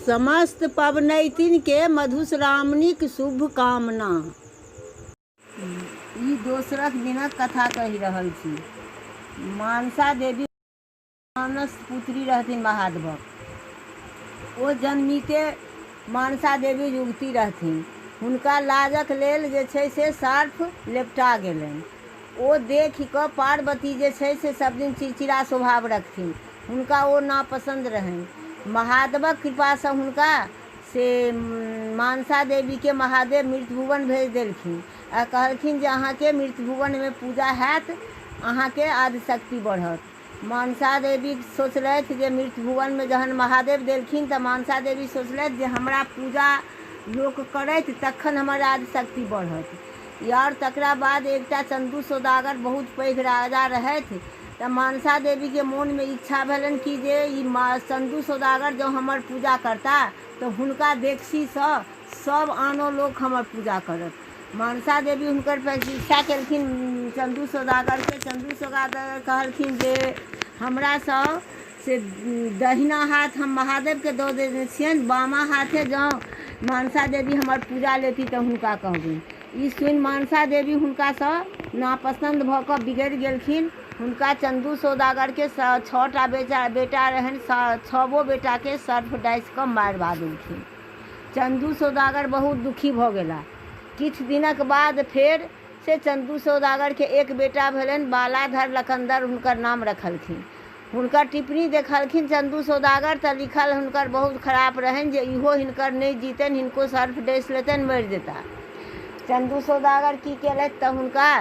समस्त पबनैतिन केँ मधुश्रावणीक शुभकामना। ई दोसरक दिनक कथा कहि रहल छी। मानसा देवी हुनकर मानस पुत्री रहथिन महादवक। ओ जन्मिते मानसा देवी युवती रहथिन। हुनका लाजक लेल जे छै से सर्फ लेपटा गेलैन। ओ देखि कऽ पार्वती जे छै से सभ दिन चिड़चिड़ा स्वभाव रखथिन। हुनका ओ नापसन्द रहनि। महादवक कृपासँ हुनका से मानसा देवीकेँ महादेव मृतभुवन भेज देलखिन आ कहलखिन जे अहाँकेँ मृतभुवनमे पूजा हएत, अहाँकेँ आदिशक्ति बढ़त। मनसा देवी सोचलथि जे मृतभुवनमे जहन महादेव देलखिन तऽ मनसा देवी सोचलथि जे हमरा पूजा लोक करथि तखन हमर राजशक्ति बढ़त आओर तकरा बाद एकटा चन्दू सौदागर बहुत पैघ राजा रहथि तऽ मनसा देवीके मोनमे इच्छा भेलनि कि जे ई चन्दू सौदागर जँ हमर पूजा करता तऽ हुनका देखसीसँ सब आनो लोक हमर पूजा करत मनसा देवी हुनकर प्रतीक्षा केलखिन चन्दू सौदागरके चन्दू सौदागर कहलखिन जे हमरासँ से दहिना हाथ हम महादेवके दऽ देने छियनि बामा हाथे जँ मनसा देवी हमर पूजा लेती तऽ हुनका कहबनि ई सुनि मनसा देवी हुनकासँ नापसन्द भऽ कऽ बिगड़ि गेलखिन हुनका चन्दू सौदागरके छओ टा बेटा बेटा रहनि छओ बेटाके सर्फ डासि कऽ मारि भऽ देलखिन चन्दू सौदागर बहुत दुखी भऽ गेलाह। किछु दिनक बाद फेर से चन्दू सौदागर केँ एक बेटा भेलनि। बालाधर लकन्दर हुनकर नाम रखलखिन। हुनकर टिप्पणी देखलखिन चन्दू सौदागर तँ लिखल हुनकर बहुत खराप रहनि जे ईहो हिनकर नहि जीतनि, हिनको सर्फ डसि लेतनि, मरि जेताह। चन्दू सौदागर की केलथि तँ हुनका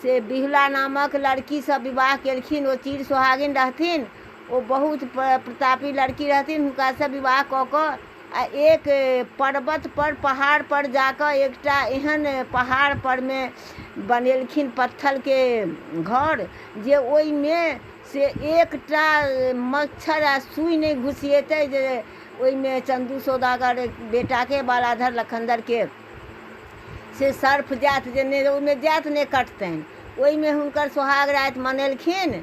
से बिहुला नामक लड़की सँ विवाह केलखिन। ओ चिर सोहागिन रहथिन। ओ बहुत प्रतापी लड़की रहथिन हुनकासँ विवाह कऽ कऽ आ एक पर्वत पर पहाड़ पर जाकऽ एकटा एहन पहाड़ परमे बनेलखिन पत्थलके घर जे ओहिमे से एकटा मच्छर आ सुइ नहि घुसिएतै जे ओहिमे चन्दू सौदागर बेटाके बालाधर लखनदरके से सर्फ जात जे नहि ओहिमे जात नहि कटतनि ओहिमे हुनकर सोहाग राति मनेलखिन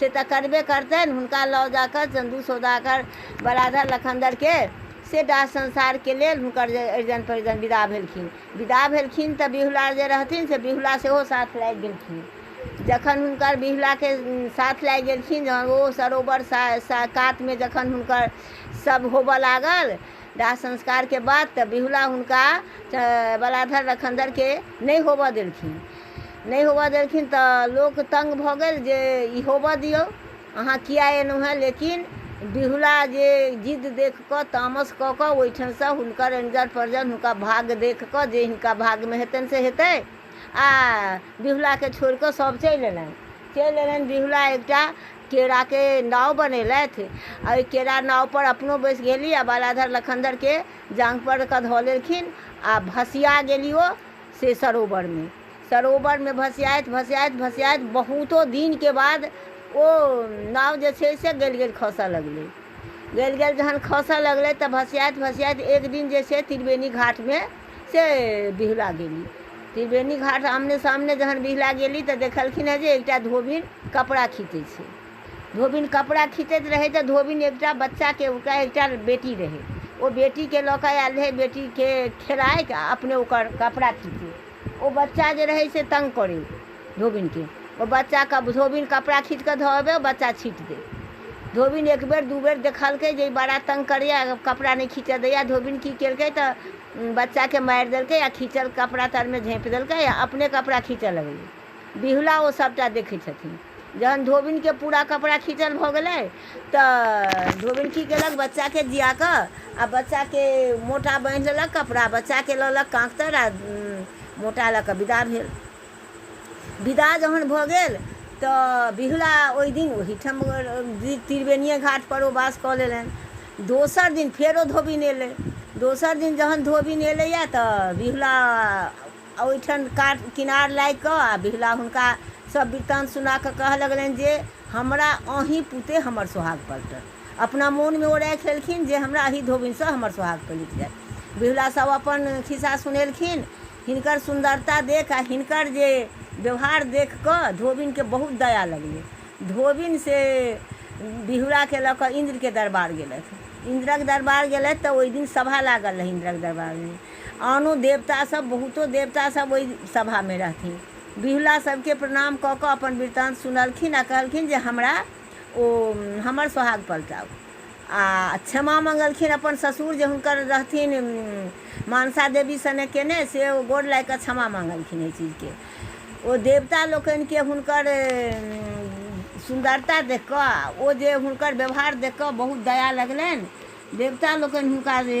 से तऽ करबे करतनि हुनका लऽ जा कऽ चन्दू सौदागर बलाधर लखनदरके से डाह संसारके लेल हुनकर जे अरिजन परिजन विदा भेलखिन विदा भेलखिन तऽ बिहुला जे रहथिन से बिहुला सेहो साथ लागि गेलखिन जखन हुनकर बिहुलाके साथ लागि गेलखिन जहन ओ सरोवर सा सा कातमे जखन हुनकर सब होबऽ लागल दाह संस्कारके बाद तऽ बिहुला हुनका बलाधर लखनदरके नहि होबऽ देलखिन नहि होबऽ देलखिन तऽ लोक तंग भऽ गेल जे ई होबऽ दियौ अहाँ किया एलहुँ हेँ लेकिन बिहुला जे जिद देख कऽ तामस कऽ कऽ ओहिठामसँ हुनकर एनजर परजर हुनका भाग्य देख कऽ जे हिनका भाग्यमे हेतनि से हेतै आ बिहुलाके छोड़ि कऽ सभ चलि एलनि चलि एलनि बिहुला एकटा केराके नाव बनेलथि आ ओहि केरा नावपर अपनो बैस गेली आ बालाधर लखनधरके जाँघपर कऽ धऽ लेलखिन आ भसिया गेली ओ से सरोवरमे सरोवरमे भसियाइत भसियाइत भसियाइत बहुतो दिनके बाद ओ नाव जे छै से गलि गलि खसऽ लगलै गलि गलि जहन खसऽ लगलै तऽ भसियाइत भसियाइत एक दिन जे छै त्रिवेणी घाटमे से बिहुला गेली त्रिवेणी घाट आमने सामने जहन बिहुला गेली तऽ देखलखिन हँ जे एकटा धोबिन कपड़ा खीचै छै धोबिन कपड़ा खीचैत रहै तऽ धोबिन एकटा बच्चाके ओकरा एकटा बेटी रहै ओ बेटीके लऽ कऽ आयल रहै बेटीके खेलाइत आ अपने ओकर कपड़ा खीचै ओ बच्चा जे रहै से तंग करै धोबिनके ओ बच्चाके धोबिन कपड़ा खींच कऽ धऽ अबै बच्चा छीट दै धोबिन एक बेर दू बेर देखलकै जे बड़ा तंग करैया कपड़ा नहि खींचऽ दैया धोबिन की केलकै तऽ बच्चाके मारि देलकै आ खींचल कपड़ा तरमे झाँपि देलकै आ अपने कपड़ा खींचऽ लगलै बिहुला ओ सभटा देखै छथिन जहन धोबिनके पूरा कपड़ा खींचल भऽ गेलै तऽ धोबिन की केलक बच्चाके जिया कऽ आ बच्चाके मोटा बान्हि लेलक कपड़ा बच्चाके लऽ लक काँख तर आ मोटा लऽ कऽ विदा भेल विदा जहन भऽ गेल तऽ बिहुला ओहि दिन ओहीठाम त्रिवेणिए घाटपर ओ बास कऽ लेलनि दोसर दिन फेरो धोबिन एलै दोसर दिन जहन धोबिन एलैए तऽ बिहुला आ ओहिठाम कात किनार लागि कऽ आ बिहुला हुनका सब वृत्तान्त सुना कऽ कहऽ लगलनि जे हमरा अहीं पुते हमर सोहाग पलटत अपना मोनमे ओ राखि लेलखिन जे हमरा अही धोबिनसँ हमर सोहाग पलटि जाय बिहुला सब अपन खिस्सा सुनेलखिन हिनकर सुन्दरता देख आ हिनकर जे व्यवहार देख कऽ धोबिनके बहुत दया लगलै धोबिन से बिहुलाके लऽ कऽ इन्द्रके दरबार गेलथि इन्द्रक दरबार गेलथि तऽ ओहि दिन सभा लागल रहै इन्द्रक दरबारमे आनो देवता सभ बहुतो देवता सभ ओहि सभा मे रहथिन। बिहुला सभ केँ प्रणाम क क अपन वृत्तान्त सुनलखिन आ कहलखिन जे हमरा ओ हमर सोहाग पलटाउ। आ क्षमा मंगलखिन अपन ससुर जे हुनकर रहथिन मानसा देवी सने केने से ओ गोड़ लागि क क्षमा मंगलखिन एहि चीज केँ। ओ देवता लोकनि केँ हुनकर सुन्दरता देख क आ ओ जे हुनकर व्यवहार देख क बहुत दया लगलनि। देवता लोकनि हुनका जे।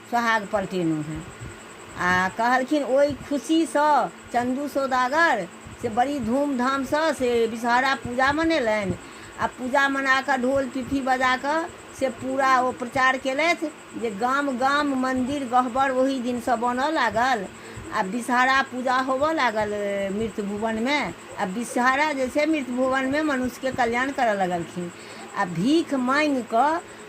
सोहाग पलटेलहुँ हेँ। आ कहलखिन ओहि खुशीसँ चन्दू सौदागर से बड़ी धूमधामसँ से विषहरा पूजा मनेलनि आ पूजा मना कऽ ढोल पिपही बजा कऽ से पूरा ओ प्रचार केलथि जे गाम गाम मन्दिर गहबर ओहि दिनसँ बनऽ लागल आ विषहरा पूजा होबऽ लागल मृत भुवनमे आ विषहरा जे छै मृत भुवनमे मनुष्यके कल्याण करऽ लगलखिन आ भीख माँगि कऽ